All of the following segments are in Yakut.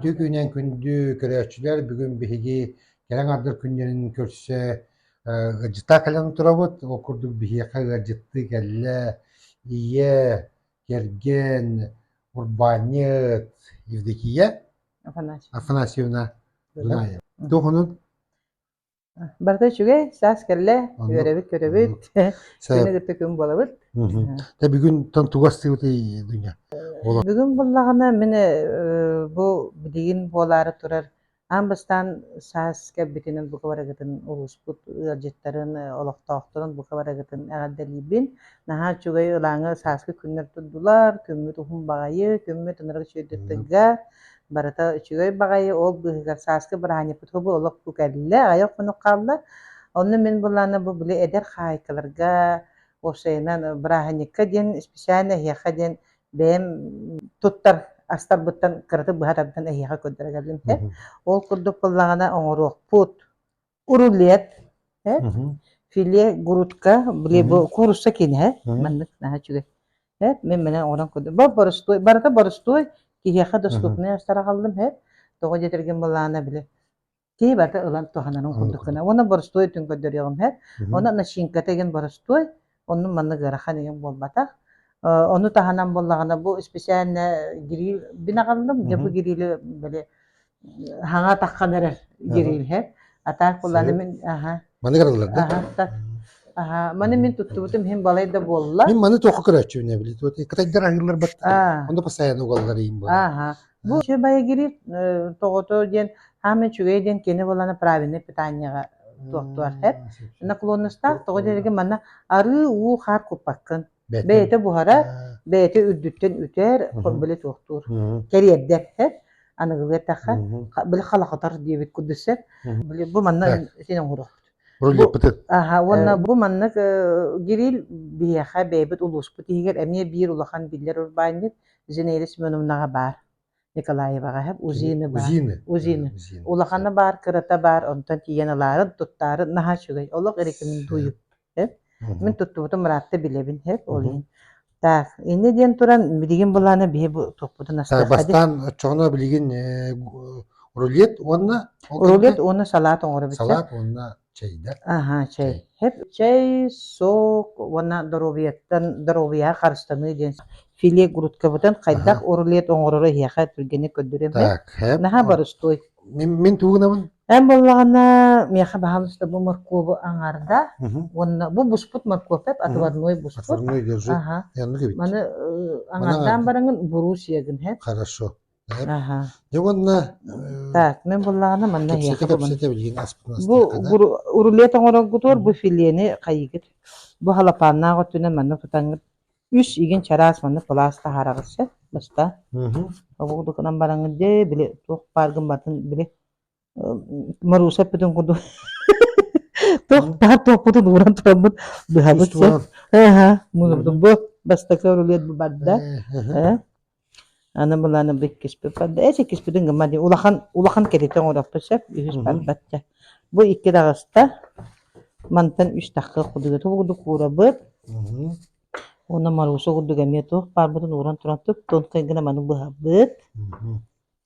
Ити күнүн күндү көрөөччүлэр бүгүн биһиги кэлэн ардык күннэрин көрсө ыалдьыттар кэлэн турабыт. Ол курдук биһиэхэ ыалдьыттыы кэллэ ийэ, кэргэн, урбаанньыт Евдокия Афанасьевна Афанасьевна Дунаева. Туһунун Барыта үчүгэй, саас кэллэ, Онно үөрэбит-көрөбүт, күнү кытта күн буолабыт. Тэ бүгүнтэн тугастыыбытый дүйня? Бүгүн буллаҕына мин бу билигин буолаары турар аан бастаан саас кэлбитинэн бука барагытын улууспут ыалдьыттарын олохтоохторун бука барагытын эҕэрдэлиибин. Наһаа үчүгэй ылааҥы сааскы күннэр турдулар, күммүт уһун баҕайы, күммүт ынырык чөйдөттөргө, Барыта үчүгэй баҕайы ол быыһыгар сааскы бырааһынньыкпыт хобу олохпу кэллэ, аҕыйах хонук хаалла. Онно мин былаана бу били эдэр хаһаайкаларга уопсайынан бырааһынньыкка диэн исписээн эһиэхэ диэн бэйэм туттар астарбыттан кыратык быһа тардан эһиэхэ көрдөрө келлим. Ол курдук буллаҕына оҥоруохпут. рулет филе грудка блебо курусса кине маннык наһа үчүгэй эт мен менен оҕонон көрдüm борустуой барыта борустуой киһиэхэ доступнай сараҕаллым эт тоҕо диэтэргин былаана били киһи барыта ылан туһанарын курдук гына уонна борустуой түн көрдөрүөҕүм эт онно начинка деген борустуой Оннун маннык ыарахан ийэм буолбатах. Ону таһынан буоллаҕына бу исписээнэ гириль бинаҕаллым. Дьэ бу гирили били хаҥа атаххан эрэр гирильһэ. Атаак буланы мин аха. Маны гыраллар да? Аха. Аха, маны мин туттубутум иһин балай да буолла. Мин маны туохха көрөөччү били, кытайдар аһыылар бат. Ону посаyan угаллар иин буолла. Аха. Вообще боегирип тоҕото диэн саамай үчүгэй диэн кини буолана правильнай питаниеҕа туохтуар хэт. Наклонностаах тоҕо диэрэгэ манна арыы уу хаар куппаккын. Бэйэтэ буһарар, бэйэтэ үрдүттэн үтэр, били туохтуур. Кэриэрдэр хэт. Аныгылыы эттэххэ, били халахатар диэбит курдуссар. Били бу манна син оҥорохпут. Бу аха уонна бу маннык Кирилл биһиэхэ бэйэбит улууспут иһигэр эмиэ биир улахан биллэр урбаанньыт Зинаида Семеновнаҕа баар. Николаеваҕа иһэ УЗИны баар. УЗИны. УЗИны. УЗИны. Улахана баар, кырата баар, онтон тиийэн ылаарын, туттаарын наһаа үчүгэй. Олох эрикиминдуйу. Мин туттубутум ыраатта билэбин эп ол иһин. Так, инде диэн туран билигин булаана биһи бу туппутун астах. Так, бастаан оччоҕуна билигин рулет уонна рулет уонна салат оҥоро бүттэ. Салат уонна Чэйдэр. Аһа, чэй. Чэй. Хеп чэй, сок уонна доруобуйаттан доруобуйаҕа харыстаныы диэн филе грудкабытын хайдах урулет оҥороро эһиэхэ түргэнник көрдөрүөм бэ. Так, хеп. Наһаа барустой. Мин мин тугунабын? Эн буоллаҕына миэхэ баһаалыста бу моркуобу аҥаарда уонна бу буспут моркуопеп отварной буспут. Отварной держи. Ага. Я ну Маны аҥаардаан бараҥын буруус иягын хэт. Хорошо. Дьэ уонна Так, мен буллаҕына манна кэпсэтэ эһиэхэ кэпсэтэ билигин аспытын Бу астыахха да рулет оҥороргутугар бу филиэни хайыгыт. Бу халапааннаах өттүнэн манна тутаҥыт. Үс игин чараас манна пылаас таһаараҕыт сөп. Баста. Мгм. Обугутукунан бараҥыт дьэ били туох бааргын батын били Маруся эппитин курдук туох таһар туохпутун ууран тураммыт быһабыт син эһэ мунурдум бу бастакы рулет бу барда аны быланы биккиспит барда эс иккиспитин гымма ди улахан улахан кэтитен орохто сөп үһүс бар батча бу икки даҕаста мантан үс тахқа кудуга ту кудук уурабыт уна Маруся кудуга эмиэ туох барбытын ууран туран туп тонкай гына маны быһабыт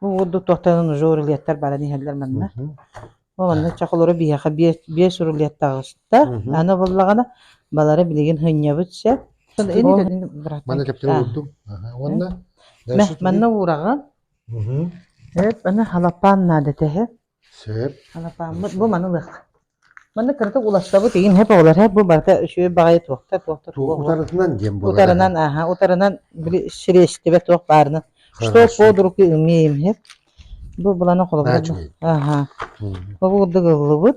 Бу курдук туохтанан уже рулеттар баран иһэллэр манна. Ол онно чахылары биһиэхэ биэс биэс рулеттаҕа ыстар. Аны буллаҕына балара билигин хынньабыт сөп. Манна кэптэрэ уурдум. Уонна Манна уураҕын. Эт аны халапаан наада тэһэ. Анапааммыт бу маны ылыахха. Маннык кыратык уларсабыт игин һэп оҕолор һэп бу барыта үчүгэй баҕайы туохта туохта туох утарытынан диэн буолар. Утарынан аха утарынан били сириэстибэ туох баарына. Что под руки умеем һэп. Бу булана холобура чух. Аха. Бу бурдук ыллыбыт.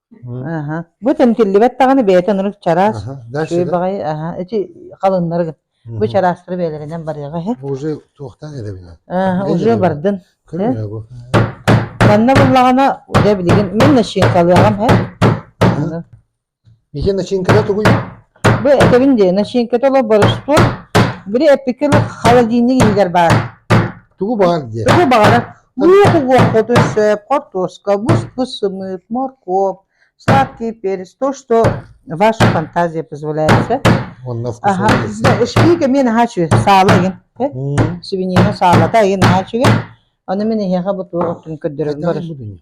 Аһа. Бу тэмтиллибэт даҕаны бэйэтин ону чараас, Аха, дальше, үчүгэй да? баҕайы, аһа, эчи халыннары бу Мгм. чараастары бэйэлэринэн барыаҕа иһи. Бу уже туохтан эрэбинэ? Аһа, Ким уже билэбэ? бардын. Көрүнэ бу. Манна буллаҕына, дьэ билигин мин начинкалыаҕам иһи. Ага. Мике начинкада тугуй? Бу этэбин дии, начинката оло борустур, бiri эппикир холодильник иһигэр баар. Тугу баар диye. Тугу баҕарар луоху-луоххутун сөп картошка кускус сымыт морковь сладкий перец то что ваша фантазия позволяет эшкиге мен хочу саала эгин свинина саалата эгин хочу эгин оны мен эһиэхэ бу туохтун көрдөрөбүн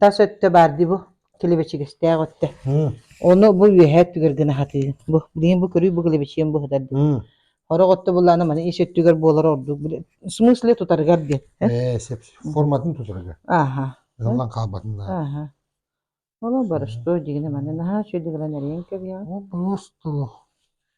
тас өттө баар дии бу килибэчигэстээх өттө ону бу үөһэ өттүгэр гына хатыы бу билигин бу көрүү бу килибэчиэн быһытар дии сорох отто буллаана маны ис өттүгэр буолар ордук в смысле тутарыгар диэн ээ сеп форматын тутарыга аха ыллан хаалбатыннаа Оло барыш то дигине маны наһаа чөдүгүлэн эриен кэбиа О, просто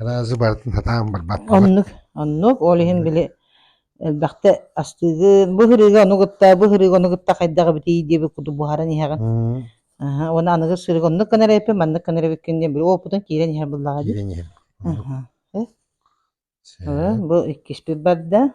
Араазы барытын сатаан барбаккабыт Оннук, оннук. Ол иһин били элбэхтэ астыыгы, бу сырыыга ону кытта, бу сырыыга ону кытта хайдах эбитий диэби куту буһаран иһэҕин. Мм. Аһа, уонна аныгы сырыыга оннук гынар эппин, маннык гынар эбиккин диэн били уопутун киирэн иһэр буоллаҕа дии. Киирэн иһэр. Оннук. Аха. Э, Э, бу иккиспит барда.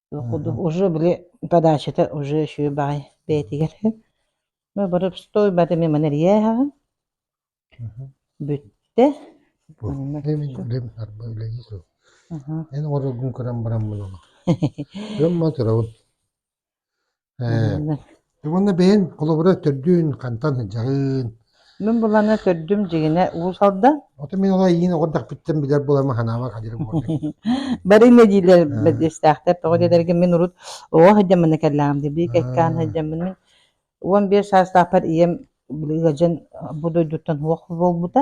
уже били подачата уже үчүгэй баҕайы бэйэтигэр мы бары стой бата мен маны эрийэ иһэҕин бүттэ эн орогун көрөн баран мунума дьон ма төрөбүн уонна бэйэн холобура төрдүн хантан дьаһыын мин буланы төрдүм дьигинэ уус алда оту мин олай иин оҕордахпыттан билэр булама ханаама хадьырым барыны диилэр бэдиэстээхтэр тоҕо диэтэргин мин урут оҕо сылдьаммына кэллэҕим дии биир кэккээн сылдьаммын мин уон биэс саастаахпар ийэм били ыалдьан бу дойдуттан уох буолбута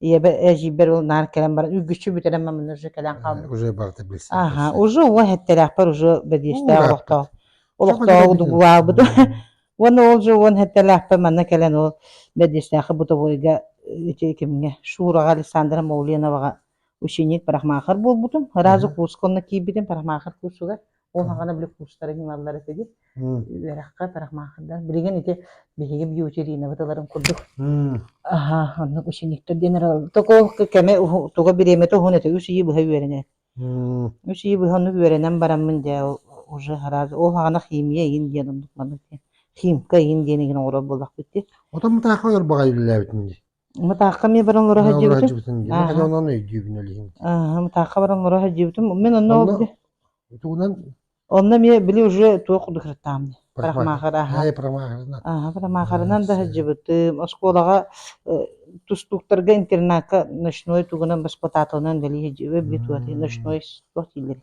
ийэбэ эдьиийбэр ол наар кэлэн баран үргүччү бүтэрэн маммын уже кэлэн хаалбыт уже барыта билсэн аха уже уо хэттэлээхпэр уже бэдиэстээх олохтоох олохтоох дугулаабыт уонна ол же уон хэттэлээхпэр манна кэлэн ол бэдиэстээхи бутовойга ити кимҥэ Шураҕа Александра Молленоваҕа ученик парамаахар буолбутум ыраазы куусканна киирбитим парамаахар куусугар ол хаҕана били курстарын ылаллар этэ ди үөрэххэ тарахмаахырдар билигин ити биһиги бьютеринабыт ыларын курдук аха оннук учениктер диэн токолку кэме туга бириэмэтэ уһун этэ үс ыйы быһа үөрэнэр үс ыйы быһа оннук үөрэнэн бараммын дьэ уже раз ол хаҕана химия иин диэн оннук маннык химка иин диэн игин оҥорор буоллахпыт ди отон мутаахха өлөр баҕайы биллээбитин ди Мытаахха мне баран олоро сылдьыбытым. Мытаахха онон өйдүүбүн өлүһүм. Аа, Мытаахха баран олоро сылдьыбытым. Мен онно ол Тугунан Онно мне били уже туох кудыкыртаам. Парамахар аха. Ай парамахарынан. Аха, парамахарынан да сылдьыбытым. Оскуолаҕа тустууктарга интернатка ночной тугунан баспотатылынан вели сылдьыбыт битуоти ночной туох дийлери.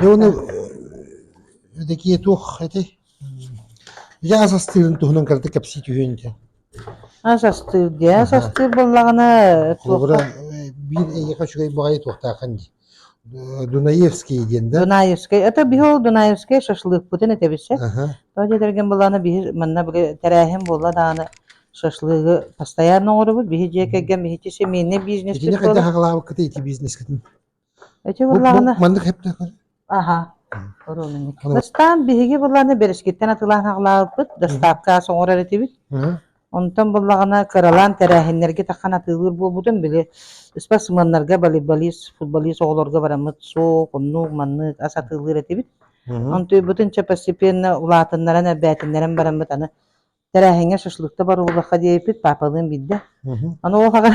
Дьэ уону эдакие туох этэй дьэ ас астыырын туһунан кыратык кэпсии түһүөн дии ас астыыр дии ас астыыр буоллаҕына холобура биир эйиэхэ үчүгэй баҕайы туохтааххын дии Дунаевский диэн да Дунаевский это биһиги Дунаевский шашлыкпытын этэбисэ то дэтэрген буллаана биһи манна били тэрээһин буолла дааны шашлыгы постоянно оҥоробут биһи дьиэ кэргэн биһичи семейный бизнес итини хайдах аҕалаабыккытый ити бизнескитин Эчи буллаҕына маннык хептөкөр Аха. Оруолунньук. Бастаан биһиги буллаҕына бэрискиттэн атылаан аҕалаабыппыт, доставка соҥорор этибит. Онтон буллаҕына кыралаан тэрээһиннэргэ тахан атыылыыр буолбутун били спортсменнарга волейболист, футболист оҕолорго бараммыт суох, оннук маннык ас атыылыыр этибит. Онтуйбутун чөпөссипиэннэ улаатыннаран, эрбээтиннэрэн бараммыт аны тэрээһиҥҥэ шашлык да барыллахха диэбиппит паапалыын биирдэ аны ол аҕа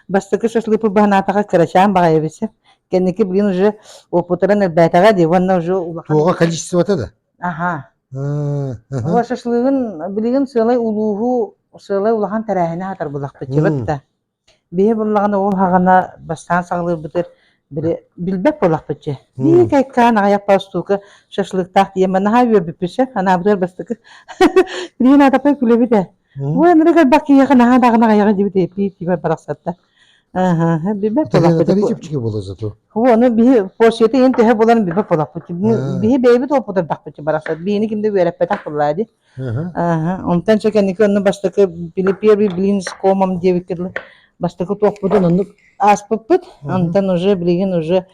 бастакы шашлыпы баһанаатаҕа кырачаан баҕайыбыт сөп кэнники блин уже опутаран элбээтэҕэ дии уонна уже улахан туоҕа количествота да аха ол шашлыгын билигин сыалай улууһу сыалай улахан тэрээһини хатарбылахпытчыбыт да Биһи буллаҕына ол хаҕана бастаан саҕалыырбытыгар били билбэт буолахпыт дьэ. Иикайкаан аҕыйах балстуука шашлыктаах тиийэн наһаа үөрбүппүт ше анаабытыгар бастакы билигин аатаппай күлэбит ээ. Бу энерго бак киһиэхэ наһаа даҕаны аҕыйаҕа дибит эппиит тибэр барахсатта. Аха билбэт буолахпыт. Тали чипчике буола зато. О, ну биһи почете ен төһө болан билбэт буолахпыт. Биһи бэйэбит опытар бахпыт барахсат. Биһини кимде үөрэппэтэх буллаа ди. Онтон чэкэники онно бастакы били первый блин с комом диэбиккэ дылы бастакы туохпутун оннук ааспыппыт. Онтон уже билигин уже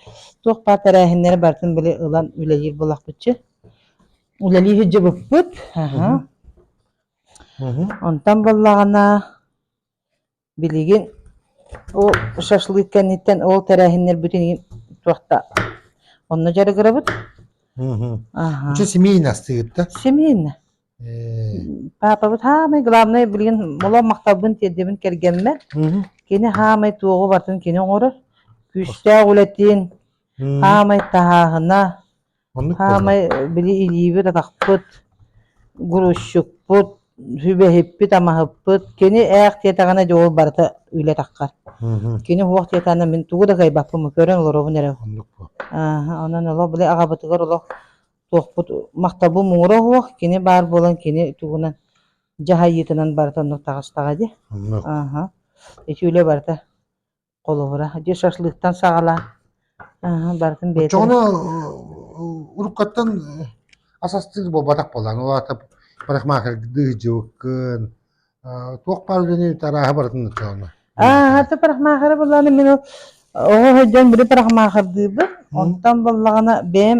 туох баар тэрээһиннэри барытын били ылан үлэлиир буолахпытчы. Үлэлии сылдьыбыппыт. Онтон буллаҕына Билигин ол шашлык кэнниттэн ол тэрээһиннэрбитин туох да онно дьарыгырабыт. Аха. Үчү семейно астыыт да? Семейно. Папабыт хаамай главное билигин моло махталбын тиэрдэбин кэргэммэр. Кини хаамай туоҕу бартын кини оҥорор. Күүстээх үлэтин хаамай таһааһына Оннук буолла. Саамай били илиибит, атахпыт, грузчукпут, сүбэһиппит, амаһыппыт. Кини ээх диэтэҕинэ дьэ ол барыта үлэ таххар. Мгм. Кини уох диэтэҕинэ мин тугу да кыайбаппын, көрөн олоробун эрэ. Оннук буол. Ааһа, онон олох били аҕабытыгар олох туохпут махталбыт муҥура уох, кини баар буолан кини тугунан дьаһайыытынан барыта оннук таҕыстаҕа дии. Оннук. Ааһа. Ити үлэ барыта холобура дьэ шашлыктан саҕалаан барытын бэйэтэ оччоҕуна уруккаттан ас астыыр буолбатах буоллаҕыҥ ол аата парикмахердыы сдьыбыккын туох баар үлэни арааһы барытын оччоҕуна аата парикмахера буоллаҕына мин оҕо сылдьан били парикмахердыыбын онтон буоллаҕына бэйэм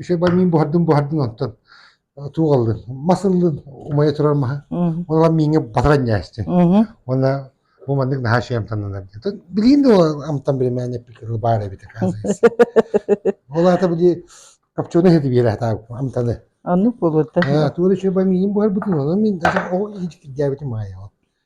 Ise мин буһардым буһардын онтон туугаллын мас ыллын умайа турар маһа онон мииҥэ батаран ньээстин уонна бу маннык наһаа шиамтаннанар диэн билигин да амтан биримээн эппикер баар эбитэ ол аата били копченый это биэрэ так амтаны аны болута туора үчүгэй миин буһарбытын онон мин даже ол иһикирдээбитим аайа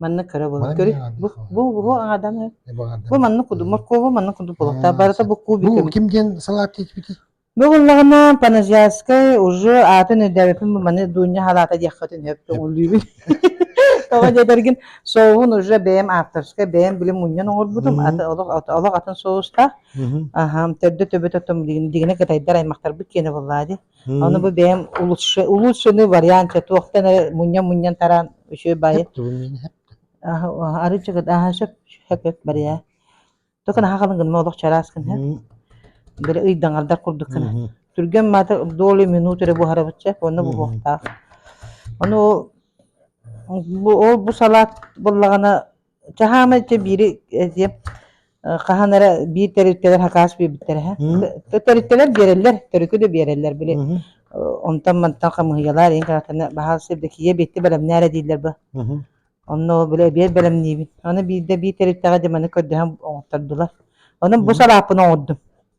Манна көрө булут көрү бу бу бу ааданы бу манна куду моркову манна куду полота барыта бу кубикы ким диэн салаат диэтбити Бөҕүллэҕинэ Паназиарскай уже атын өйдөөбүппүн маны Дуня халаата диэххитин өппү уллүүбүн тоҕо диэтэргин соуһун уже бэйэм авторскай бэйэм билим мунньан оҥорбутум аты олох олох атын соустаах аһам төрдө төбөтө том дигине кытайдар аймахтарбыт киэнэ буоллаа ди Аны бу бэйэм лучше лучшины варианта туохтан эрэ мунньан-мунньан тараан үчүгэй баайы арыычыгыт аһа сөп хөкөк барыйа токо наха халынгын молох чараас кын хэ бere ыйдаҥардар курдук кына түргэн маата доли минут эрэ буһарабытча онно буһуохтаах ону бу ол бу салат буллагана Чаһаама иччэ биири эсиэ хаһан эрэ биир төрүттэлэр хакаас биэрбиттэр эһэ. Төрүттэлэр биэрэллэр, төрүкү да биэрэллэр били. Онтон мантан хамыһыйалар ин катаны баһаас сирдекие бетти бэлэмнээре дииллэр бу. Онно били биер бэлэмниибит. Аны биирдэ биир төрүттэҕэ дьыманы көрдөһөн оҥоттордулар. Онон бу салааппын оҥордум.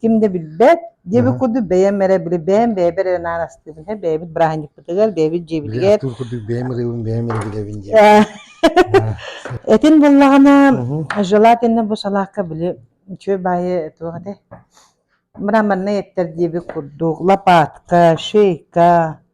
ким да билбэт диэбит курдук бэйэм эрэ били бэйэм бэйэбэр эрэ наан астыыбын иһэ бэйэбит бырааһынньыкпытыгар бэйэбит дьиэбитигэр Быраатыыр курдук бэйэм ырыыбын бэйэм эрэ билэбин диэн. этин буллаҕына желательно бу салаакка били үчүгэй баайы туох этэ мраморнай эттэр диэбит курдук лопатка шейка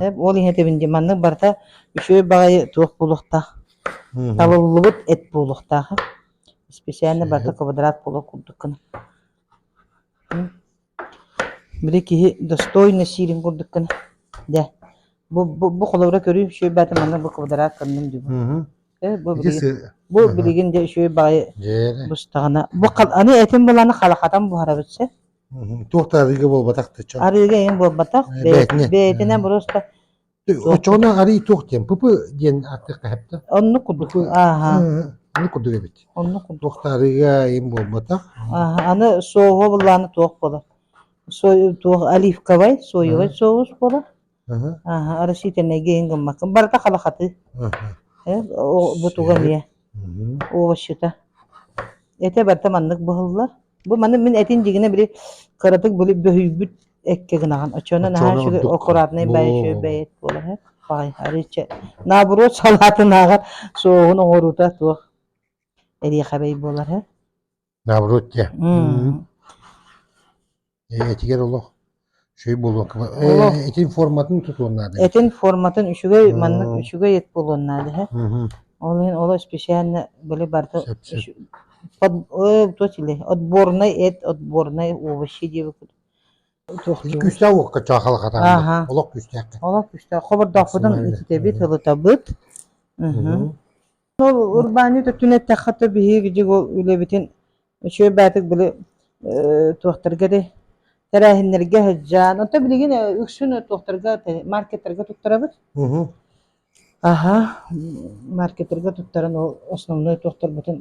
Эп ол иһин этибин дии, маннык барыта үчүгэй баҕайы туох буолуохтаах, талыллыбыт эт буолуохтаах. Исписээнэ барыта квадрат буола курдук гына. Били киһи достойно сиирин курдук гына. Дэ. Бу бу бу холобура көрүү үчүгэй баата маннык бу квадрат кыннын дүү. Э бу билигин бу билигин де үчүгэй баҕайы бустаҕына бу аны этим буланы халахатан буһарабыт сы. туох да арыыга буолбатах да чон арыыга иһин буолбатах бэйэтинэн просто очоҕуна арыы туох диэн пыпы диэн артык хаһыпта оннук курдук ааха аны курдук эбит оннук курдук туох да арыыга иһин буолбатах ааха аны соуга буллааны туох буолар туох оливковай соевай соус буолар Ааһа, растительнай геин гыммаккын. Барыта хабахатыы. Бутуга эмиэ. Овощута. Эте барыта маннык быһыллар. Бу маны мин этин дигине били кыратык били бөһүйбүт экке гынаҕын. Очуона наһаа үчүгэй аккуратнай бэйэ шөбэйет буолаһы. Бай, арыча. Наоборот салаатынааҕар суоһун оҥоруута туох эриэхэбэй буолар һэ. Добротье. Этигэр олох үчүгэй болуокка олох этин форматын тутуон наада. Этин форматын үчүгэй маннык үчүгэй эт буолуон наада. Ол иһин олох специально были барда то чили отборный эт отборный овощи диэбит Күстэ уокка чаахалахата. Аха. Олох күстэ. Олох күстэ. Хобордохпутун иттэбит, ылытабыт. Ол урбаанньыт өттүн эттэххэ то биһиги дьиҥ ол үлэбитин үчүгэй баатык били э, туохтарга этэй тэрээһиннэргэ сылдьан онто билигин э, үксүн туохтарга маркеттарга туттарабыт аха маркеттерга туттаран ол основной туохтарбытын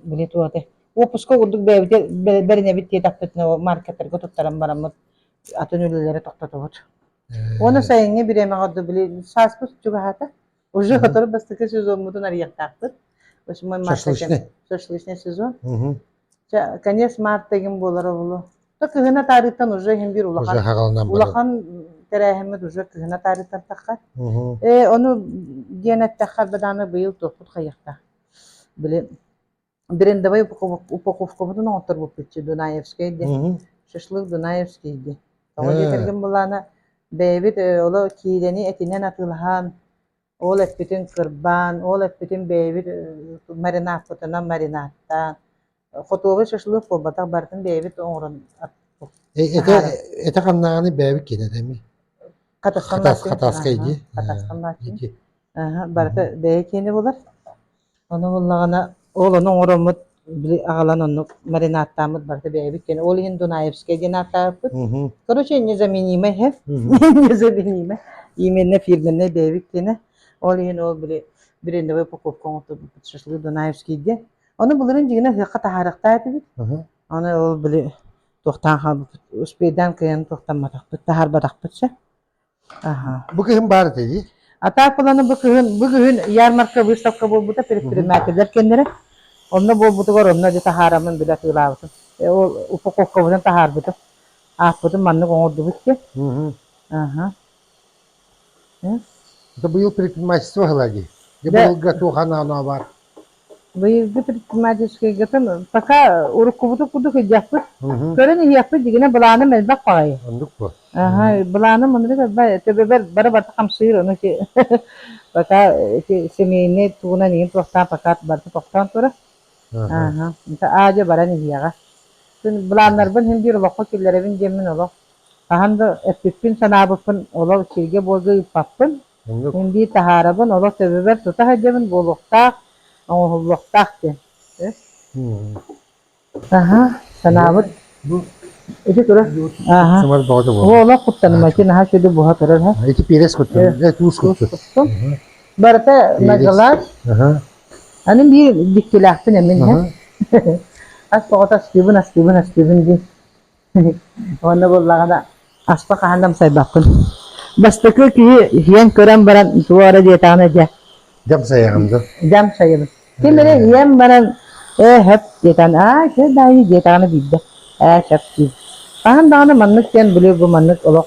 били туоte уопуска курдук бэйэбити бэринэбит тиэтаппытына маркеттарга туттаран бараммыт атын үлэлэри тохтотобут оны сайыҥҥы бириэмэҕэ били сааспыт чугаһаата Уже который бастакы сезоммутун арыйахтаахпыт. В общем, мы марта шашлычный сезон. Конец марта эгин болар обулу. То кыһына таарыттан уже хим бир улахан улахан терээһиммит уже кыһына таарыттан такка. Э, ону диэн эттэххэр бадааны быйыл топпут хайахта. Билин брендовай упаковкабытын оҥотторбуппут дунаевскай диэн шашлык дунаевский диэн тоҕо диэн этэргин былаана бэйэбит оло киидэни этинэн атыылаһан ол эппитин кырбаан ол эппитин бэйэбит маринадкатынан маринадтаан хотуоба шашлык буолбатах барытын бэйэбит оҥорон это хамнааны бэйэбит кенетеми хатасканнаатин хатаскай дии хатасканнаатин барыта бэйэ киэнэ болар Ону ыллаҕына ол ону оҥороммут били аҕалан оннук маринааттааммыт барыта бэйэбит кэнэ ол иһин Дунаевскай диэн ааттаабыппыт. Мгм. Короче, незаменимое хев, Мгм. незаменимое. Именно фирменнай бэйэбит кэнэ. Ол иһин ол били брендовай упаковка оҥотторбуппут шашлык Дунаевский диэн. Ону былырыын дьиҥинэ ыһыахха таһаарыахтаах этибит. Мгм. Аны ол били туохтаан хаалбыппыт, успейдаан кыайан туохтамматахпыт, таһаарбатахпыт ся. Бу кыһын баар этэ дии. А так баланы бу кыһын бу кыһын ярмарка выставка буолбута предпринимателлэр кэннэрэ онно буолбутугар онно дьэ таһаарамын били атыылаабытым. Э, ол упаковкабытын таһаарбытым. Ааппытын маннык оҥордубут диэн. Аха. Это быйыл предпринимательство ыла дии. Быйылга туох анаанаа бар? Быйылгы предпринимательскай гытым пока уруккубуту курдук ыдьахпыт, көрөн иһиэхпит дигине былааным элбэх баҕайы. Оннук бу. Аха, быланым мунук элбэ төбөбөр бары барта хамсыыр ону ити пока ити семейный тугунан иин туохтаан пока барта тохтоон тура. Аха, это аадьа баран иһиэҕэ. Күн былааннарбын һин биир олоххо киллэрэбин диэммин олох хаһан да эппиппин санаабыппын олох сиргэ буолга ыыппаппын Мин дии таһаарабын, олох төбөбөр тута сылдьабын буолуохтаах, оҥоһуллуохтаах диэн. Аха, санаабыт ити турар. Ааха. Сымар бөҕөтө буолла. О, олох куттаным, эти наһаа сүдү буһа турар, һэ. Ити пиэрес куттун, туус куттун. Куттун. Барыта нагалаат. Анын биир диккилээхпин эмин, һэ. Ас боҕото астыыбын, астыыбын, астыыбын дии. Уонна буоллаҕына аспа хаһан да амсайбаппын. Бастакы киһи иһиэн көрөн баран туох эрэ диэтэҕинэ дьэ Дьамсайаҕын дуу? дьамсайабын. Ким эрэ иһиэн баран ээ сөп диэтэн аа чэ даайы диэтэҕинэ биирдэ ээ сөп диир. Хаһан даҕаны маннык диэн били бу маннык олох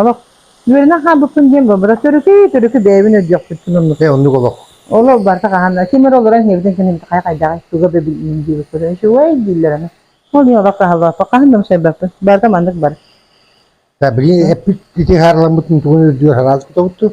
Олох үөрэнэн хаалбыппын диэн буолбата төрүкү төрүкү бэйэбин өйдүөхпүппүн оннук э, оннук олох. Олох барыта хаһан ким эрэ олорон иһэбитин кэннибит хайа хайдаҕай туга бэбиллин диэбит көрөн үчүгэй дииллэр аны. Ол иһин олох хаалбаппын хаһан да умсайбаппын барыта маннык бар. Да, билин эппит ити хаарламмытын тугун үрдүгэр харааз кутобутту.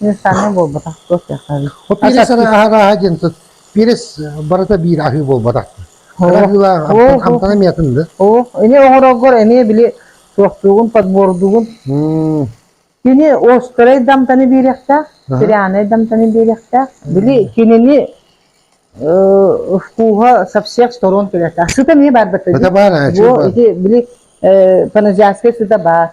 Универсальнай буолбатах, туох диэххэ. Вот перес арааһа диэн тут, перес барыта биир аһыы буолбатах. Аһыылаах амтана миятынды. Оо, эни оҥорогор эни били суохтугун, подбордугун. Кини остарай дамтаны биэрехтээх, серианай дамтаны биэрехтээх. Били кинини вкуһа со всех сторон тулята. Сыта не бар бата. Бата бар, а чего? Били паназиатская сыта бар.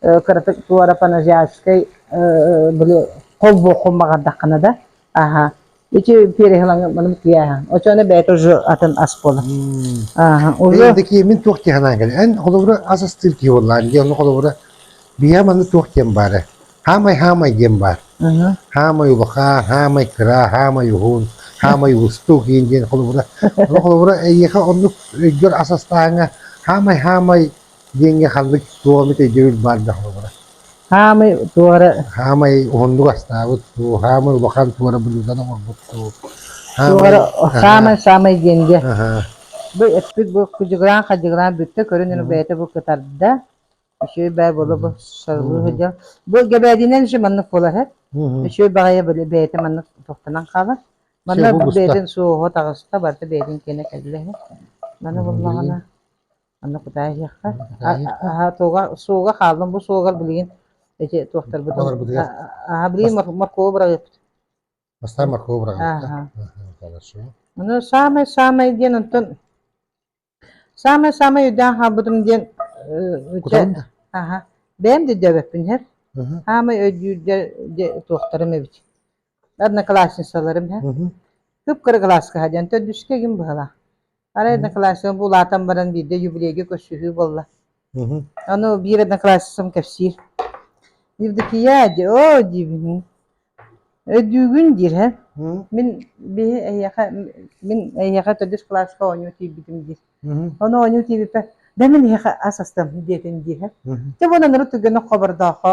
кыратык туорапаназиатскай были холбуоххун баҕардаххына да аха ити переһылаҥы маным кияһа очоно бэйэтэ уже атын ас буолар аха уже такие мин туох тиһанан кэле эн холобура ас астыыр киһи боллаар дии ону холобура бия маны туох диэн баара хаамай хаамай диэн баар хаамай улахан хаамай кыра хаамай уһун хаамай устук диэн диэн холобура ону холобура эйиэхэ оннук өйгөр ас астааҥа хаамай хаамай диэҥҥэ ханнык суомит өйдөбүл баар да холобура. Хаамай туох эрэ хаамай уһуннук астаабыт дуу, хаамай улахан туора былыытан оҥорбут дуу. туох эрэ хаамай саамай диэн диэ. Бу эппит бу кыдьыгыраан хадьыгыраан бүттэ көрүн ин бэйэтэ бу кытарда. Үчүгэй бай буола бу сарылыы сылдьа. Бу гэбээдинэн же маннык буолар. Үчүгэй баҕайы бэйэтэ маннык тохтанан хаалар. Манна бэйэтин суоһо таҕыста барда бэйэтин кэнэ кэллэ. Маны буллаҕына Аны кутаайыһыахха, суога суога хааллым бу суогар билигин эти туохтарбыт Олорбутугар. аха билигин моркову быраҕыппыт Бастаан моркову быраҕан. Хорошо. Ону саамай саамай диэн онтон саамай саамай өйдөөн хаалбытым диэн э, Кутарым да. аха бэйэм да дөбөппүн хэр Аха. саамай өйдүүр дэ туохтарым эбит одноклассницаларым иһэ кып-кыра кылааска диэн төрдүскэ ким быһыылаах арай одноклассница булаатан баран биирдэ юбилейга көрсүһүү буолла ону биир одноклассницам кэпсиир евдокия дии оо диибин өйдүүгүн диир һэ мин биһи эһиэхэ мин эһиэхэ төрдүс кылааска оонньуу тиийбитим диир ону оонньуу тиийбиппэ да мин эһиэхэ ас астам диэтин дии һэ дьэ буонан ыры түргэнник хобордоохо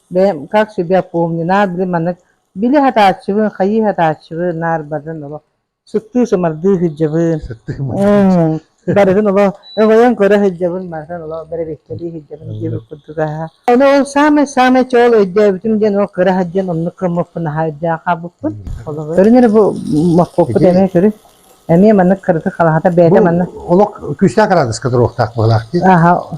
Бэйэм как себя помню, наадыйы маннык били сатааччыбын, хайыы сатааччыбын, наарбатын оло сыттыы сымардыы сыдьабын. Сыттыы мардыы. Барытын оло өҕөйөн көрө сыдьабын, мантан оло бэрэбиктэлии сыдьабын диэбит курдуга. Ону ол самай-самай чоол өйдөөбүтүм диэн ол кыра сыдьан оннук кыммыппын хаайдааха букпут. Көрүнэр бу маппыппыт эмиэ көрү. Эмиэ маннык кырытык халаһата бэйэтэ манна. Олох күүстээх арадыска туруохтаах быһылаах дии. Аха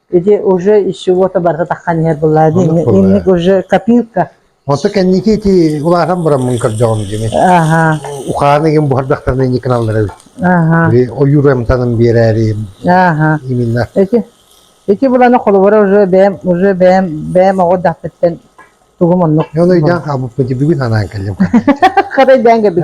Ити уже из чего-то барыта таххан иһэр былаан. Инник уже копилка. Онто кэнники ити улахан бураммын көрдөҕүм дими. Аха. Ухааны игин буһардахтарны никналлары. Аха. Ойурамтанын биэрээри. Аха. Именно. Эти эти буланы холобура уже бэм уже бэм бэм оҕо дахпыттан тугум оннук. Оны үйден абып бүгүн анан келдим. Хатай дәңге бит.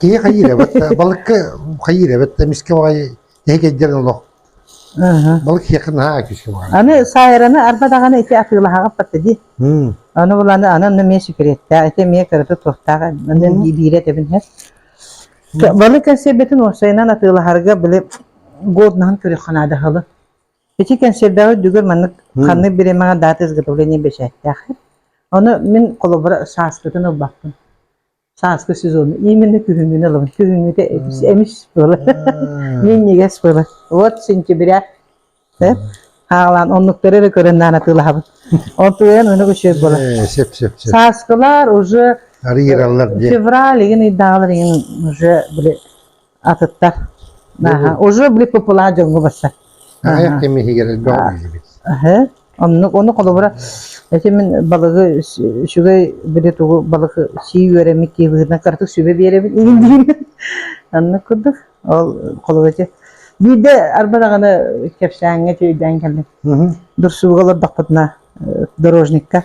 Киһи хайыырабыт, балыкка хайыырабыт, эмискэ баҕайы эһигэйдэрин олох балык киһиэхэ наһаа күүскэ баҕайы. Аны саайраны арба даҕаны ити атыылаһаҕыппат дии. Ону буланы анан эмиэ секреттээх, ити эмиэ кыратык туохтаах биирэ этэбин иһэ. Балык кэнсиэрбэтин уопсайынан атыылаһарга били годнаһын көрүөххэ наада халы. Ити кэнсиэрбэҕи дүгэр маннык ханнык биримэҕэ даата изготовление бэчээттээх. Ону мин холобура сааскытын ылбаппын. сааскы сезон именно күһүҥҥүнү ылабын күһүҥҥүтэ эмис эмис буолар минньигэс буолар вот сентября хаалаан оннуктары эрэ көрөн наана атыылаһабын онтуйан өнөк үчүгэй буолар сөп сөп сөп сааскылар уже февраль игин ыйдаалар игин уже били атыттар аха уже были попула дьоҥҥо бастар аҕыйах кэм иһигэр элбэх биллибит аһы оннук ону холобура эти мин балыгы үчүгэй били тугу балыгы сии үөрэми киебыһынан кыратык сүбэ биэрэбин иһин диин аннык курдук ол холобура биирde арбадаҕаны кэпсээҥҥэ тиэйдээн кэллим дурсууга олордохпутуна дорожникка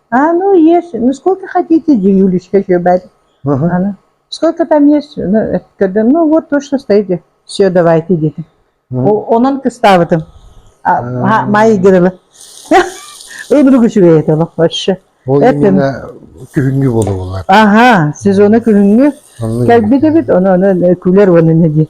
А, ну есть. Ну сколько хотите, Юлечка Щебарь. Ага. Она. Сколько там есть? Ну, когда, ну вот то, что стоите. Все, давайте, дети. Онон кыстабытым. Майя Игорова. Öbürü küçüğe yetelim. Hoşça. O именно күһүнгү болу болар. Ага, сезоны күһүнгү. Кэлбит эбит, оны оны күлер оны не ди.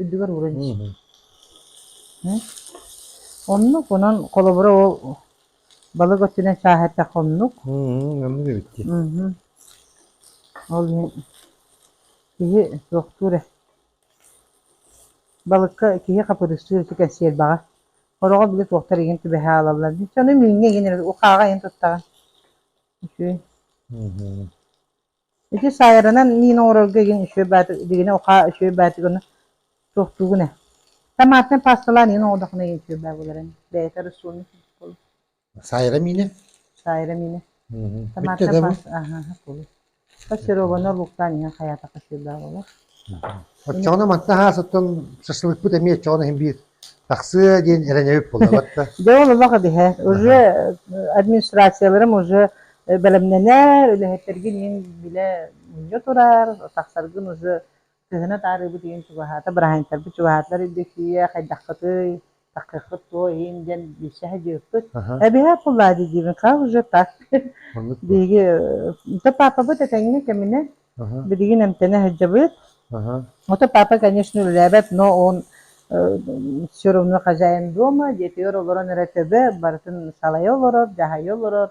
үрдүгэр ууран Оннук онон холобура ол балык өттүнэн сааһырдах оннук. Оннук эбитти. Ол киһи суохтуур э. Балыкка киһи хапырыстыыр этэ кэнсиэрбэҕэ. Ороҕо били туохтар игин түбэһэ аалаллар. Дьону мүҥҥэ игин ухааҕа иһин туттаҕын. Үчүгэй. Ити саайаранан миин оҥорорго игин үчүгэй бааты бигини ухаа үчүгэй баатыгын суохтуугун ээ. Томатнай пасталаан иһин оҥордоххуна иһин үчүгэй баа буларан. Бэйэтэ рацион буолу. Саайра миинэ? Саайра миинэ. Мгм. Томатнай Бүттэ да бу? паста. Аха, аха, булу. Фаршированный луктан иһин хаятакка үчүгэй баа болар. Оччоҕуна мантан аһаасыттан шашлыкпыт эмиэ оччоҕуна иһин биир тахсыа диэн эрэнэбит буоллаҕыт да? Дьэ ол олох үһэ. Уже администрацияларым уже бэлэмнэнэр, үлэһиттэргин иһин билэ мунньа турар, тахсаргын уже кыһына таарыыбыт иһин чугаһаата, быраһаанньыттарбыт чугаһаатылар өйдөтүйэ, хайдаххытый? такыаххыт туо иһин диэн билсэһэ дьыыппыт эбиһэ пуллаади диибин хаа уже так биһиги то папабыт этэҥҥэ кэминэ билигин эмтэнэ сылдьабыт ото папа конечно үлэлээбэт но он все равно хозяин дома детигэр олорон эрэ төбө барытын салайа олорор дьаһайа олорор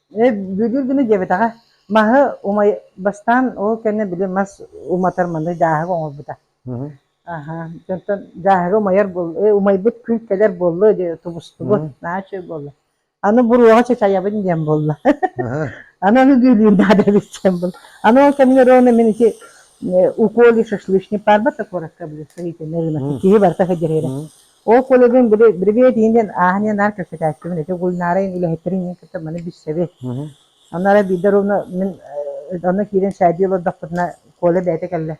Ээ, бүгүн гына диэбэтэҕэ, маһы умай бастаан ол кэннэ били мас уматар маны дьааһыгы оҥорбута. Мгм. Аһа, оттон дьааһыгы умайар буолла, э, умайбыт күн кэлэр буолла диye тубустубут, Мгм. наһаа үчүгэй буолла. Аны буруоҕа чачайабын диэн буолла. Аһа. Аны аны дүүлүүр наада эбит диэн буолла. Аны ол кэмҥэ Рона мин ити э, уколи шашлычник баарбата куоракка били сыһыытынна гына. Мгм. Киһи барыта федерирэ. Мгм. Ол коллегын бэбиэт иһинэн ааһан иһэн наар кэпсэтээччибин ити Гульнарайын үлэһиттэрин иһин кытта маны билсэбит. Онно эрэ биирдэ ровно мин онно киирэн шайдыы олордохпутуна Коля бэйэтэ кэллэ.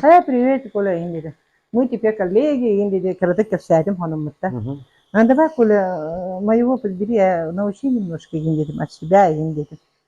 Хаа привет Коля иһин диэтэ. Мы теперь коллеги иһин диэтэ кыратык кэпсээтим хонуммуттан. А давай Коля моего подбери научи немножко иһин диэтим от себя иһин диэтим.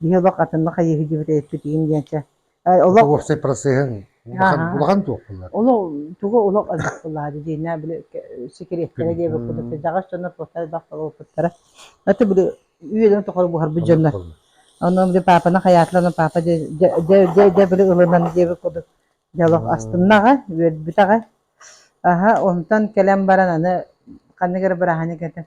Киһи олох атыннык хайыһы дьибит эппитиин диэнчэ олох уопсай процеһын улахан улахан туох булар олох тугу олох алдах булаады диэнэ били секреттэрэ диэби кудата жагаш дьоннор туоттар бах болопуттара аты били үөлөн тохор буһарбыт дьоннор онон били папаны хаятла папа де де де де били ылынан диэби куду жалох астыннаға үөлбүтаға аха онтон кэлэн баран аны ханныгар быраһаны кэтэ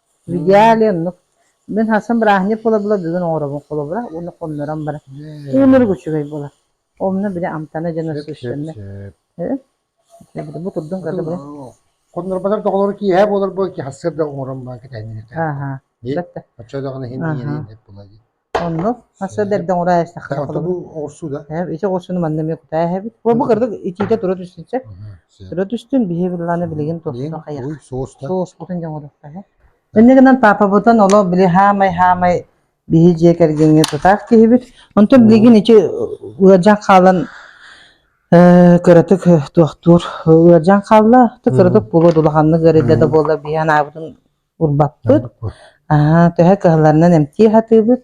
Идеале оннук. Мин хасан бырааһынньык буола-буола бүгүн оҥоробун холобура уонна хоннорон баран уунар үчүгэй буолар. Онно били амтана дьоно сүүстэннэ. Бу турдун көрдө бу. Хоннорбатар доҕолору киэһэ буолар буол ки хасыр да оҥорон баа кэтэһиннэ. Аха. Бэтэ. Оччо даҕаны хинди деп була ди. Онно мас эрдэрдэ оҥороо эхтахтар Ата бу оҕурсуу да? Ити оҕурсууну манна эмиэ кутаа эһэбит. Бу кырдык итиитэ тура түстүнсэ. Тура түстүн биһи былаана билигин туохта хайах. Уй, суоста. Суоспутун дьоҥодохта. Иннэ гынан папабытын оло били хаамай-хаамай биһи дьиэ кэргэҥҥэ тутаах киһибит. Онтон билигин ити ыалдьан хаалан кыратык туохтуур ыалдьан хаалла. Ты кыратык булу дулаханнык өрүллэ да буолла биһи анаабытын урбаппыт. Аа, төһө кыһалларынан эмтии сатыыбыт,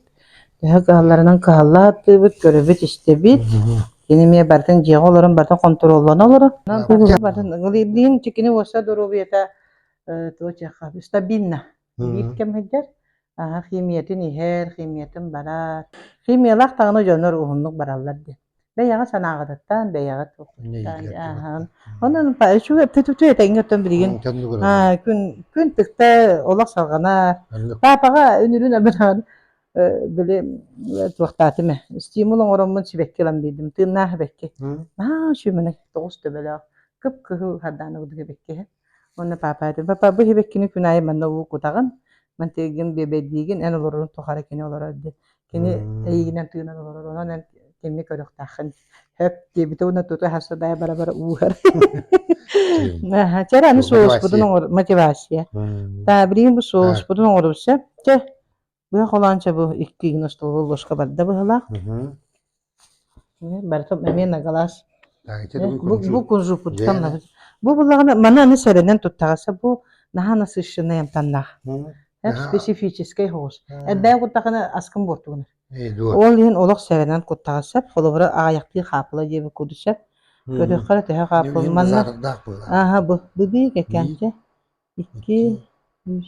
төһө кыһалларынан кыһалла сатыыбыт, көрөбүт-истэбит. Кини эмиэ барытын дьиэҕэ олорон барытын хонтуруоллана олорор. Барытын ыгылыйбыйын чикини уоса доруобуйата туочаха стабильно. Биир кэм сылдьар. Аха химиятин иһэр, химиятин барар. Химиялаах даҕаны дьоннор уһуннук бараллар диэн. бэйэҕэ санааҕытыттан бэйэҕит укуттан онон үчүгэй тэҥҥиттэн билигин күн күн тыкта олох салҕана паапаҕа үнүрүн абынаан били туохтаатым ээ стимул оҥороммун сибэкки ылан биэрдим тыыннаах сибэкки аа үчүмэнэ тоҕус төбөлөөх кып кыһыл хардаан ордук сибэккиһэ уонна паапа этим папа бу сибэккини күн аайы манна уу кутаҕын мантыгын биэбэрдиигин эн олорорун тухары кини олорор диэн Кини эйиигинэн тыынан олорор, онон эн итинник көрүөхтээххин. Хөп диэбитэ уонна тута садаайа бара-бара ууһар. Чэр аны соуспутун оҥор мотивация. Да, билигин бу соуспутун оҥорусса. Чэ, быһа холоонча бу икки гин остолу ложка барда быһылаах. барыта эмиэ нагалааш бу кунжуппуттан бу буллаҕына маны аны сэрэнэн туттаҕаса бу наһаа насыщенный амтаннаах специфическэй соҕус эрбээн куттахына аскын буортугунар ол иһин олох сэрэнэн куттаҕа сөп холобура аҕыйахтыы хаапыла диэби куду сөп көрдөххө төһө хаапыл манна аха бу бу биир кэккэнчэ икки үс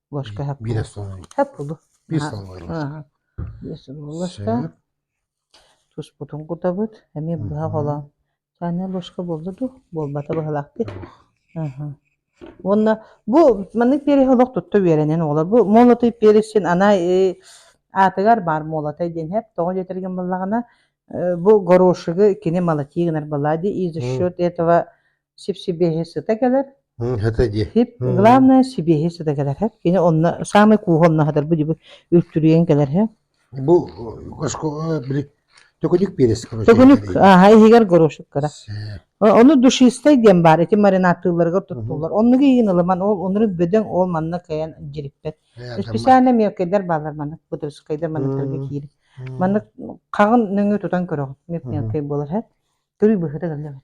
Ложка һап Биир солунуй. һап булу. Биир солунуй ложка. Биэс ложка. Сөп. Туспутун кутабыт. Эмиэ быһа холоон. Чайная ложка буолла дуу? Буолбата быһалаахтык. Аха. Уонна бу маннык перех олох тутта үөрэнэн оҕолор. Бу молотый перех син ана э, аатыгар баар молотай диэн хэп тоҕо диэтэрген баллаҕына э, бу горошигы кини молотии гынар была ди и за счет этого сип-сибиэһи сыта кэлэр. Хата дии. Сип, главное сибиэһи сыта кэлэр. Кини онно саамай кууһа онно хатар бу дьиби үлтүрүйэн кэлэр. Бу оскола били төкүнүк перес короче. Төкүнүк аха иһигэр горошкара. Ону душистай диэн баар ити маринаттыылларыгар туттулар. Оннуга иин ылыман ол онору бөдөҥ ол манна кэйэн дириппет. Специально мелкайдар баалар маннык бутырскайдар манныктарга киирик. Маннык қағын нөңө тутан көрөҕүт. Мелкай болар хат. Түрі быһыта галлабат.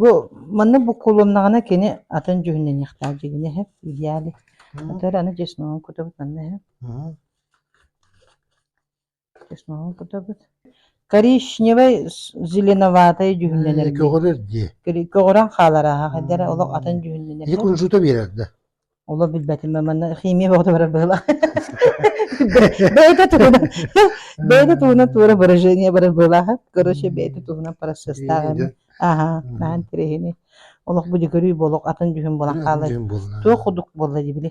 Бу манна буккулуннаҕына кини атын дьүһүннэниэхтээх дьиҥинэ иһэ идеале. Отвар аны чесногун кутабыт манна иһэ. Чесногун кутабыт. Коричневай с- зеленоватай дьүһүннэнэр. Көҕөрөр дии. Көҕөрөн хаалар ааһа. Хайдара олох атын дьүһүннэнэр. Ити кунжута биэрэр да. Олох билбэтим манна химия бөҕөтө быһыла бэйэтэ туһунан бэйэтэ туһунан туора выражение бары быылаһа короче бэйэтэ туһунан процесстааҕын аха наһан тирэһини олох бу дьөгөрүй болох атын дьүһүн буолан хаалар туох кудук буолла дибили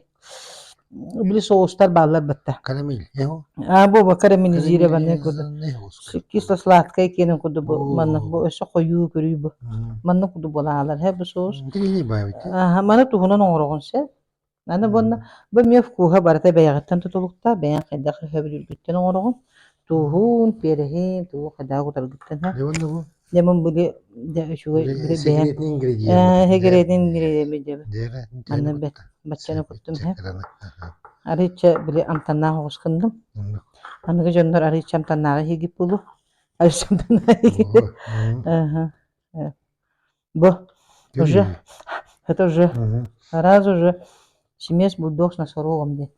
били соустар бааллар бытта карамель а буба карамелизированный кудук кисло сладкое киэнин курдук бу маннык бу өссө хойуу көрүй бу маннык курдук буолаалар һэ бу соус аха маны туһунан оҥороҕун сэ аны буонна бу эмиэ вкуһа барыта бэйэҕиттэн тутулукта бэйэҥ хайдах өһөбүлүргүттэн оҥороҕун тууһун переһин туух хайдах утаргыттан һэ Дэмин били да үчүгэй били бэйэн сегретин ингредиенти дьэбэ аны бэт баччаны куттум һэ арыча били амтаннаах оҕускындым аныгы дьоннор арыча амтаннааҕы хигип булу арыча амтаннааҕы бо уже это уже сразу же Симиэс бульдог с носорогом диэн.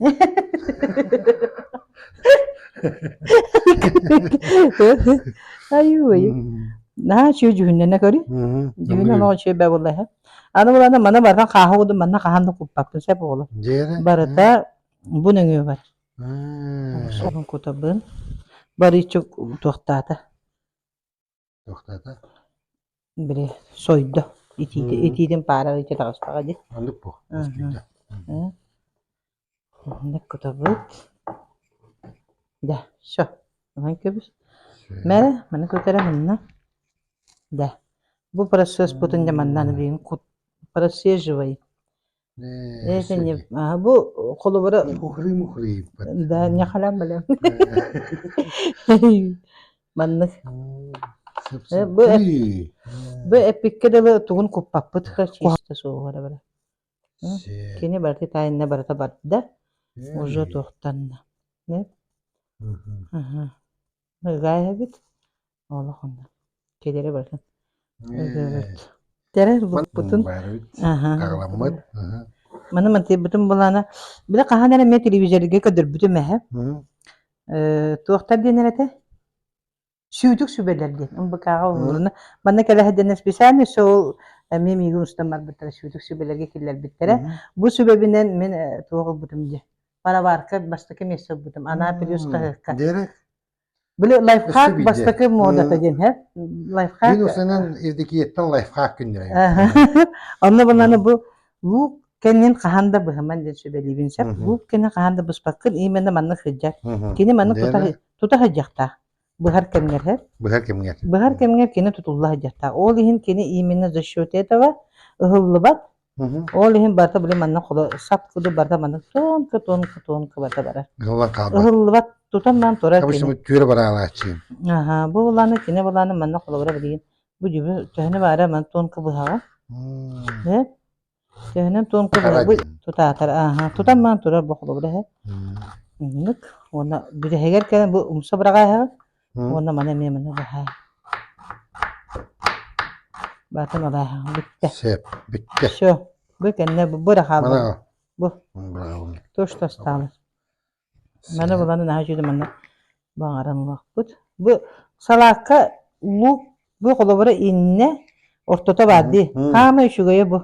Айуй. Наһаа үчүгэй дьүһүннэнэ көрү. Дьүһүннэн оҕо үчүгэй бэ буллаһа. Аны буланы маны бардан хааһуудун манна хаһан да куппаппын сеп болар. Барыта бу нөҥүө бар. Соһун кутабын. Барычу туохтаата. Били сойдо. Итиити итиитин паара итии таҕыстаҕа дии. Маннык бу. Мускүйдэ. Маннык кутабыт. Да, все. Онон кэбис. Мэрэ, маны көтөрө хынна. Да. Бу процесс бутун да маннан биин кут просиживай. Э, кини бу холобура да не халам балам маннык бу бу эпикке дылы тугун куппаппыт чисто суоҕара бара кини барыта тайынна барыта барда уже туохтанна нет ага ыгайабит олох онно кэлэрэ барытын ырыабыт тэрэр булбутун аһаҕаламмыт маны мантыйбытым булаана били хаһан эрэ эмиэ телевизорга көрдөрбүтүм эһэ туохтар диэн эр этэ сүүтүк сүбэлэр диэн ымбыкаҕа улууруна манна кэлэһэдэнэ специально все ол эмиэ миигин устан барбыттара сүүтүк сүбэлэргэ киллэрбиттэрэ бу сүбэбинэн мин туох ылбытым дии пароварка бастакы место ылбытым анаа плюс хаһыакка Били лайфхак бастакы модата диэн һэ лайфхак. Мин усанан ирдикиеттен лайфхак күннэрэ. Онно бунаны бу луук кэннин хаһан да быһыман диэн сүбэлиибин сөп. Луук кэннин хаһан да быспаккын именно манны хыджат. Кини манны тута хыджахта. Быһар кэмгер һэ. Быһар кэмгер. Быһар кэмгер кини тутулла хыджахта. Ол иһин кини именно за счет этого ыһыллыбат Ол иһин барыта били манна холо сап куду барыта манна туонка туонка туонка барыта барар. Ылла хаалбат. Ыһыллыбат тутан маан турар кини. Обычно түөрэ бараалааччыын. Аха, бу улааны кини балааны манна холобура билигин бу дьүбү төһөнө баара ман туонка быһаҕа. Э? Төһөнөн туонка быһа бу тутаатар. Аха, тутан маан турар бу холобура һэ. Нык. Уонна бүтэһигэр кэлэн бу умса быраҕаа һэ. Уонна маны эмиэ маны алаһаан баатын алааһаан бүттэ. Сеп, бүттэ. Все, бу кэннэ бу бу да хаалбан. Бу. То что осталось. Маны буланы наһаа жүдү манна баҕаран улаахпыт. Бу салаакка лук бу холобура инне ортото баар дии. Хаама үчүгэйэ бу.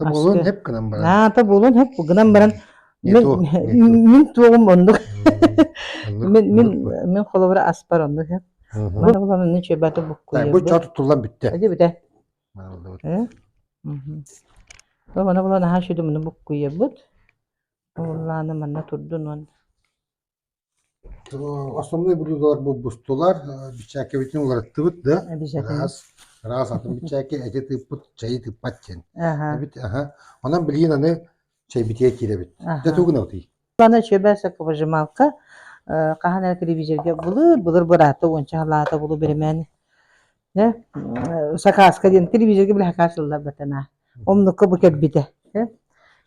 Буолан эп гынан баран. Наата буолан эп гынан баран мен мен туогум оннук мен мен мен холобура аспар оннук эп. Ман олар не чөбәте буккуйа. Бу чот туллан бүтте. Эди бүтә. Ол мана булан аха шүдү муну буккуйа бут. Олланы манна турдун он. Основной буруйдуулар булбустулар. Бичээккэбитин уларыттыбыт да. Раз. Раз атын бичээкки эти тыыппыт, чэйи тыыппат диэн. Эбит, аха. Онон билигин аны чэй битиэ киирэбит. Дэ тугун алтый? Аны чөбөсө кыбыжымалка хаһан эрэ телевизорга былыр, былыр быраата уонча халаата булу бэримэни э, сакааска диэн телевизорга били хакаачыллар батана омнукка бу кэлбитэ э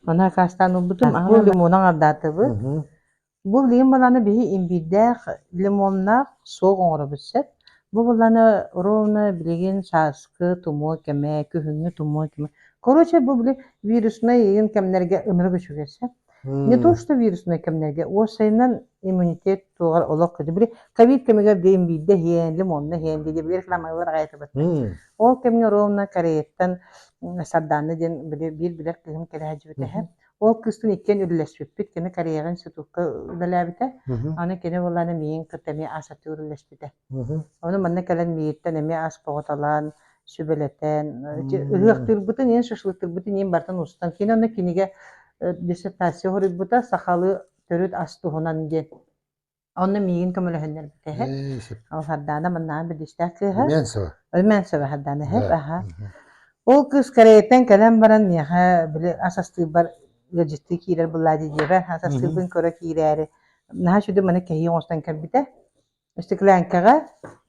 аны хакаастаан ылбытым аһынан лимонун ардаатыбыт бу лимон баланы биһи имбирдээх лимоннаах суох оҥоробут сөп бу баланы ровно билигин сааскы тумуо кэмэ күһүҥҥү тумуо кэмэ короче бу били вируснай иин кэмнэргэ ынырык үчүгэй сөп Не то что вируснай кэмнэргэ, уопсайынан иммунитет туоҕар олох көтүбүрү ковид кэмигэр диэн биирдэ иһиэнлим, онно иһиэнли диэбигэр кыламалылар аҕайытыбыт. Ол кэмҥэ ровно Кореяттан Сардаана диэн биир билэр кыһым кэлээдьибитэ. Ол кыстын иккиэн үлэлэспиппит, кини Кореяҕа институтка үлэлээбитэ. Аны кини буолаана миин кытта эмиэ асатыы үлэлэспитэ. Ону манна кэлэн миигиттэн эмиэ ас боҕуталаан, сүбэлэтэн, ыһыахтыырбытын иһин, шашлыктыырбытын иһин барытын устан киинэ уонна кинигэ диссертация хоруйбута сахалыы төрүт ас туһунан диэн. Онно миигин көмөлөһүннэрбитэ алхардаана маннаан бэдистээх кыыһа Өлмэнцева хардаана эһэ аха ол кыыс Кореяттан кэлэн баран миэхэ били ас астыырбар ыалдьыттыы киирэр буллаа дии диэбэр ас астыырбын көрө киирээри наһаа сүдү маны кэһии оҥостон кэлбитэ Стеклянкаҕа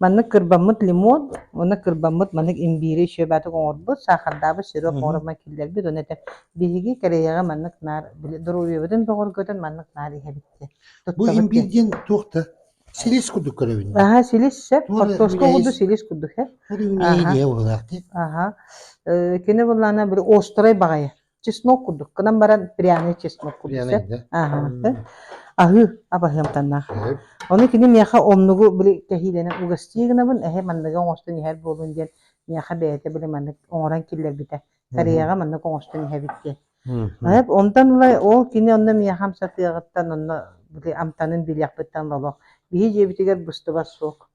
маннык кырбаммыт лимон уонна кырбаммыт маннык имбиири шүөбээтик оҥорбут, саахардаабыт сироп оҥорума киллэрбит уонна этэ биһиги Кореяҕа маннык наар били доруобуйабытын бөҕөргөтөн маннык наар иһэбит диэн. Бу имбиир диэн туох да? Силис курдук көрөбүн. Аһа силис сөп. Хортуоска курдук силис курдук һэ. Үрүҥ иһэ буолаахтыы. Аха. Э, кини буллаана били острой баҕайы. чеснок курдук гынан баран пряный чеснок курдук аһыы абаһыамтаннаах ону кини миэхэ омнугу били кэһиилэнэн угастыы гынабын эһэ манныгы оҥостон иһэр буолун диэн миэхэ бэйэтэ били маннык оҥорон киллэрбитэ кореяҕа маннык оҥостон иһэбит диэн онтон ыла ол кини онно миэхэ хамсатыаҕыттан онно били амтанын билиэхпиттэн олох биһи дьиэбитигэр быстыбат суох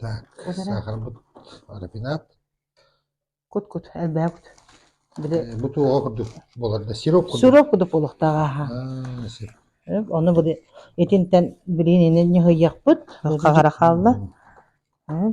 Так, сахарбыт рапинат. Кут-кут, элбээх кут. Били Э, Бу туоҕа курдук буолар да сироп курдук. сироп кудук олохтаах ааһа. А, сир. Э, Ону били итинтэн билиниини ньыһыйыахпыт, хаҕара хаалла. Э,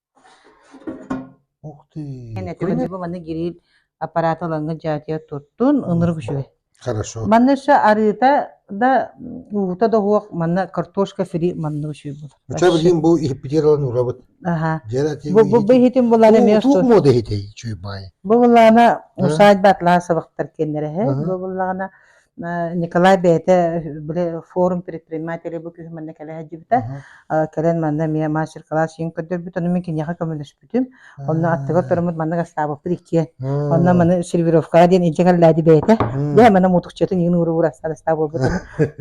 Ух ты! Көнөтү бабаны гириир аппараты ылаҥҥыт дьаатыйа туртун, ынырык үчүгэй. Хорошо. Манна өссө арыыта да, уута да уһуох, манна картошка фри манна үчүгэй булар. Ыча билигин бу иһиппитиэралан урабыт. Аха. Бу бу иһитин булар эмиэ Туох муода иһитей чүй баай. Бу буллаҕына усаайба атлаа сабахтар кэннэрэһэ. Бу буллаҕына Николай бэйэтэ били форум предпринимателя бу күүһү манна кэлэ сылдьыбыта. Кэлэн манна эмиэ мастер-кылаас иҥин көрдөрбүт. Ону мин киниэхэ көмөлөспүтүм. Онно аттыгар туруммут маннык астаабыппыт иккиэн. Онно маны сервировкаҕа диэн илдьэ кэллээди бэйэтэ. Дьэ манна мутукчатын иҥин уура уура астаабыппыт.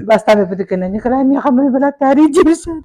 Бастаан эппитиккэ Николай миэхэ маны бэлэт таарий дьиэсэт.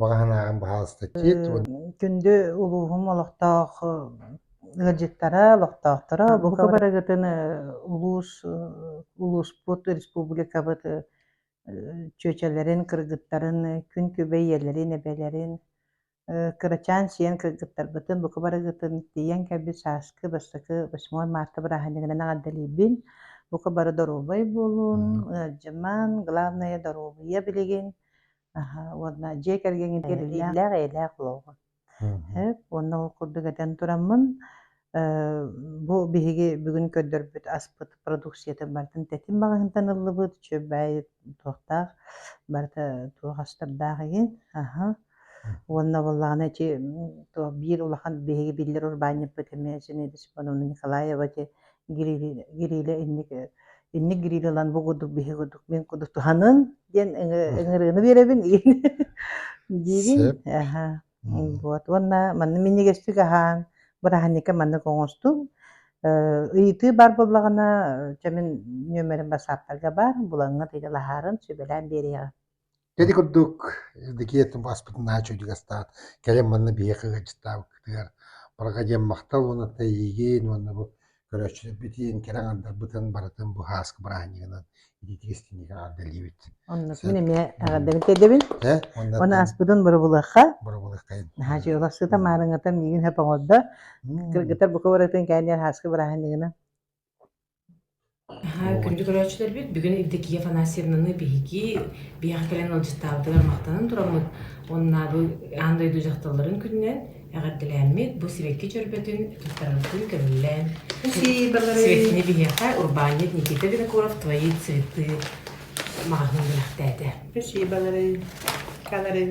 баҕаһынааҕын баһаалыстатиит күндү улууһум олохтоох ыалдьыттара олохтоохторо бука барыгытын улуус улууспут республикабыт чүөчэлэрин кыргыттарын күн күбэ ийэлэрин эбэлэрин кырачаан сиэн кыргыттарбытын бука барыгытын тиийэн кэлбит сааскы бастакы восьмой марта бырааһынньыгынан эҕэрдэлиибин бука бары доруобай буолун ыалдьыман главное доруобуйа билигин Аһа, уонна дьиэ кэргэҥҥин кэрэтииллээх эйэлээх олоҕу. Эп, уонна ол курдук этэн тураммын, э, бу биһиги бүгүн көрдөрбүт аспыт продукциятын барытын тэтим маҕаһыынтан ыллыбыт, чүөбэй туохтаах барыта туох астардаах игин. Аһа. Уонна буоллаҕына эти то биир улахан биһиги биллэр урбаанньыппыт эмиэ Зинаида Семеновна Николаева ити Гирилэ, Гирилэ инник, инник Гирилэ ылан бу курдук биһи курдук мин курдук туһаныҥ диэн ыҥырыыны биэрэбин диибин. Аха. Вот. Уонна манна минньигэстик аһаан, бырааһынньыкка маннык оҥостум. ыйытыы бар буоллаҕына, чэ мин нүөмэрим бассааппарга баар, булаҥҥа тыйдалаһарын сүбэлээн биэриэҕим. Кэди курдук Евдокия ааспытынаа үчүгэй астаат, кэлин манна биһиэхэ ыалдьыттаабыккытыгар барҕа диэн махтал уонна эйиигин уонна бу көрөөччүлэрбитин, кэрэ аҥардарбытын барытын бу хааска бырааһынньыгынан итиитик-истиниигэ аҕардалиибит. Оннукпун эмиэ эҕэрдэбин тиэрдэбин. Уонна ааспытын бырабылыахха. Бырабылыаххайын. Наһаа дьыалах сыта маарыҥата миигин хөп оҥордо. Кыргыттар бука барытын кээнниэр хааска бырааһынньыгынан. Аһаа, О, күндү көрөөччүлэрбит бүгүн Евдокия Афанасьевнаны биһиги биһиэхэ кэлэн ыалдьыттаабытыгар махтанан тураммыт уоннаабы аан дойду дьахталларын күнүнэн эҕэрдэлээммит бу сибэкки чөрбөтүн туттараргытын көмүллээн Спасибо сибэккини большое. биһиэхэ урбаанньыт Никита Винокуров твои цветы маҕаһыын бэлэхтээтэ. Спасибо, Лорен. Канарин.